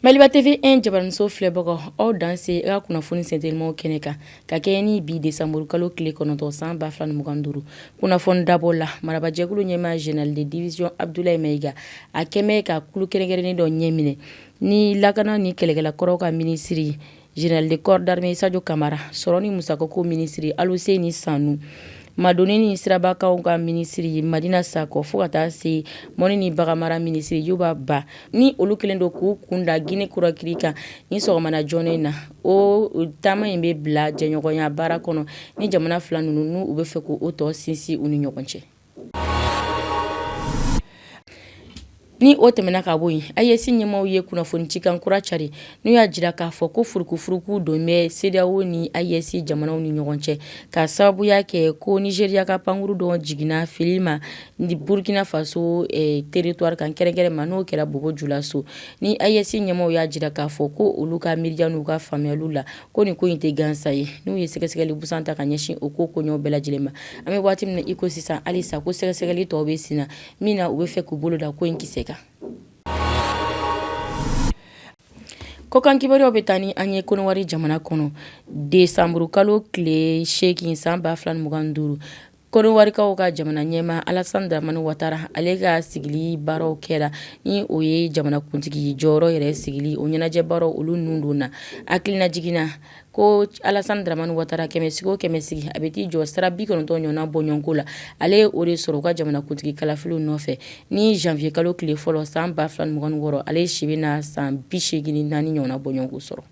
Maliba TV1 jabaranso filɛbagaw aw danse a ka kunnafoni sentelimaw kɛnɛ kan ka kɛɲɛ ni bi desanburukalo tile kɔnɔntɔn san ba fila ni mugan duuru kunnafoni dabɔ la marabajɛkulu ɲɛmaa général de division Abdoulaye Maïga a kɛmɛ ka kulu kɛrɛnkɛrɛnnen dɔ ɲɛminɛ ni lakana ni kɛlɛkɛla kɔrɔw ka minisiri Général de corps d'armée Sadio Camara sɔrɔ ni musakako minisiri Alousséni Sanou madonni ni sirabakaw ka minisiri Madina Sakɔ fo ka taa se mɔni ni baganmara minisiri Youba Ba ni olu kɛlen don k'u kunda Guinée Conakry kan ni sɔgɔmana joona in na o taama in bɛ bila jɛɲɔgɔnya baara kɔnɔ ni jamana fila ninnu n u bɛ fɛ k' o tɔ sinsin u ni ɲɔgɔn cɛ Ni o tɛmɛna ka bɔ yen AES ɲɛmaaw ye kunnafoni cikan kura cari n'u y'a jira k'a fɔ ko furukufuruku don bɛ CEDEAO ni AES jamanaw ni ɲɔgɔn cɛ ka sababuya kɛ ko Nigeria ka pankuru dɔ jiginna fili ma ni Burkina Faso territoire kan kɛrɛnkɛrɛn ma n'o kɛra Bobo Julaso ni AES ɲɛmaaw y'a jira k'a fɔ ko olu ka miiriya n'u ka faamuyaliw la ko nin ko in tɛ gansa ye n'u ye sɛgɛsɛgɛli busan ta ka ɲɛsin o ko koɲɛw bɛɛ lajɛlen ma an bɛ waati min iko sisan halisa ko sɛgɛsɛgɛli tɔw bɛ sen na min na u bɛ fɛ k'u bolo da ko in kisɛ kan kɔkan kibaruyaw bɛ taa ni an ye kɔnɔwari jamana kɔnɔ desanburukalo tile seegin san ba fila mugan duuru Kɔnɔwarikaw ka jamana ɲɛmaa Alassane Dramane Ouattara ale ka sigili baaraw kɛra ni o ye jamanakuntigi jɔyɔrɔ yɛrɛ sigili o ɲɛnajɛ baaraw olu ninnu donna hakilina jigin na ko Alassane Dramane Ouattara kɛmɛ sigi o kɛmɛ sigi a bɛ t'i jɔ sira bi kɔnɔntɔn ɲɔgɔnna bɔɲɔgɔnko la ale ye o de sɔrɔ u ka jamanakuntigi kalafiliw nɔfɛ ni janvier kalo tile fɔlɔ san ba fila ni mugan ni wɔɔrɔ ale si bɛna san bi seegin ni naani ɲɔgɔnna bɔɲɔgɔnko sɔrɔ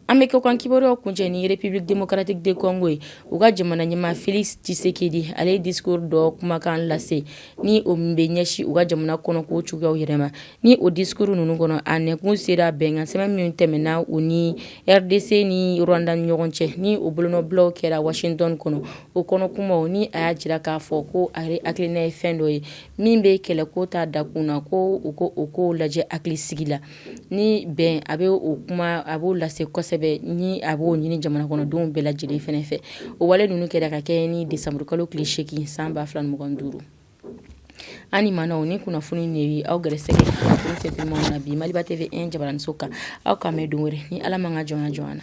An bɛ kɔkan kibaruyaw kuncɛ ni République démocratique du Congo ye u ka jamana ɲɛmaa Félix Tshisekedi ale ye discours dɔ kumakan lase ni o bɛ ɲɛsin u ka jamana kɔnɔko cogoyaw yɛrɛ ma ni o discours ninnu kɔnɔ a nɛnkun sera bɛnkansɛbɛn min tɛmɛna u ni RDC ni Rwanda ni ɲɔgɔn cɛ ni o bolonɔbilaw kɛra Washington kɔnɔ o kɔnɔkumaw ni a y'a jira k'a fɔ ko a yɛrɛ hakilina ye fɛn dɔ ye min bɛ kɛlɛko ta dakun na ko u k'o ko lajɛ hakilisigi la ni bɛn a bɛ o kuma a b'o lase kosɛbɛ ni a b'o ɲini jamana kɔnɔdenw bɛɛ lajɛlen fɛnɛ fɛ o wale ninnu kɛra ka kɛɲɛ ni desanburukalo tile seegin san ba fila mugan duuru an ma o ni kunnafoni de aw gɛrɛsɛ na bi Maliba TV1 jabaranso kan aw ka mɛn don wɛrɛ ni ala man ka jɔn jɔn na